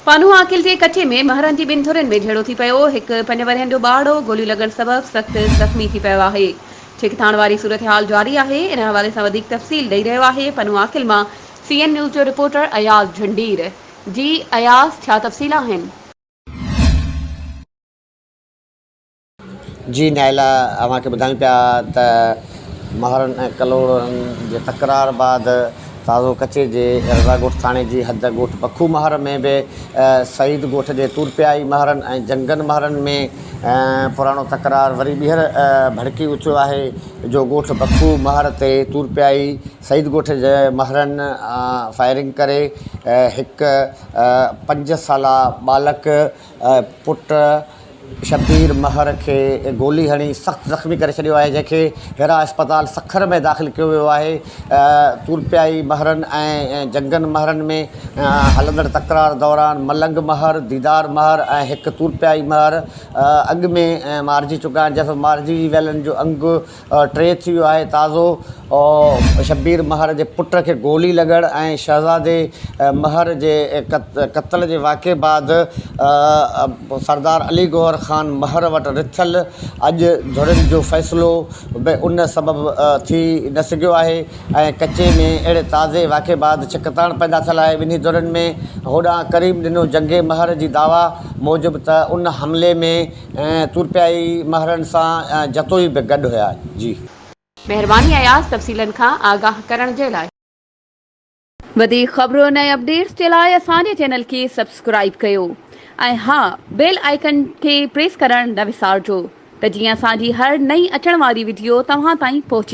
پانو عاقل جي ڪچي ۾ مهرن جي ٻن ڌرين ۾ جهيڙو ٿي پيو. هڪ پنج ورهين جو ٻارڙو گوليون لڳڻ سبب سخت زخمي ٿي پيو آهي. ڇڪتاڻ واري صورتحال جاري آهي. ان حوالي سان وڌيڪ تفصيل ڏئي رهيو آهي پنو عاقل مان سي اين نيوز جو رپورٽر اياز جهنڊير. جي اياز ڇا تفصيل آهن؟ جي نائلا اوهان کي ٻڌايون پيا ته مهرن ۽ ڪلهوڙن جي تڪرار بعد تازو ڪچي جي رضا ڳوٺ ٿاڻي جي حد ڳوٺ بکو مهر ۾ به سعيد ڳوٺ جي تورپيائي مهرن ۽ جنگن مهرن ۾ پراڻو تڪرار وري ٻيهر ڀڙڪي اٿيو آهي جو ڳوٺ بکو مهر تي تورپيائي سعيد ڳوٺ جي مهرن فائرنگ ڪري هڪ پنج سالا ٻالڪ پٽ شبير مهر کي گولي هڻي سخت زخمي ڪري ڇڏيو آهي جنهن کي هيرا اسپتال سکر ۾ داخل ڪيو ويو آهي تورپيائي مهرن ۽ جنگن مهرن ۾ هلندڙ تڪرار دوران ملنگ مهر ديدار مهر ۽ هڪ تورپيائي مهر اڳ ۾ مارجي چڪا آهن جنهن سبب مارجي ويلن جو انگ ٽي ٿي ويو آهي تازو شبير مهر جي پٽ کي گولي لڳڻ ۽ شهزادي مهر جي قتل جي واقعي بعد سردار علي گوهر خان مهر وٽ رٿيل اڄ ڌرين جو فيصلو به ان سبب ٿي نه سگهيو آهي ۽ ڪچي ۾ اهڙي تازي واقعي بعد ڇڪتاڻ پيدا ٿيل آهي ٻنهي ڌرين ۾ هوڏانهن ڪريم ڏنو جنگي مهر جي دعويٰ موجب ته ان حملي ۾ ۽ تر پيا ئي مهرن سان ۽ جتوئي به گڏ هيا جي. مهرباني اياز تفصيلن کان آگاهه ڪرڻ جي لاء. وڌيڪ خبرن ۽ اپڊيٽس جي لاء اسان جي چينل کي سبسڪرائيب ڪيو ۽ ها بيل آئيڪن کي پريس ڪرڻ نه وسارجو ته جيئن اسان جي هر نئين اچڻ واري وڊيو توهان تائين پهچي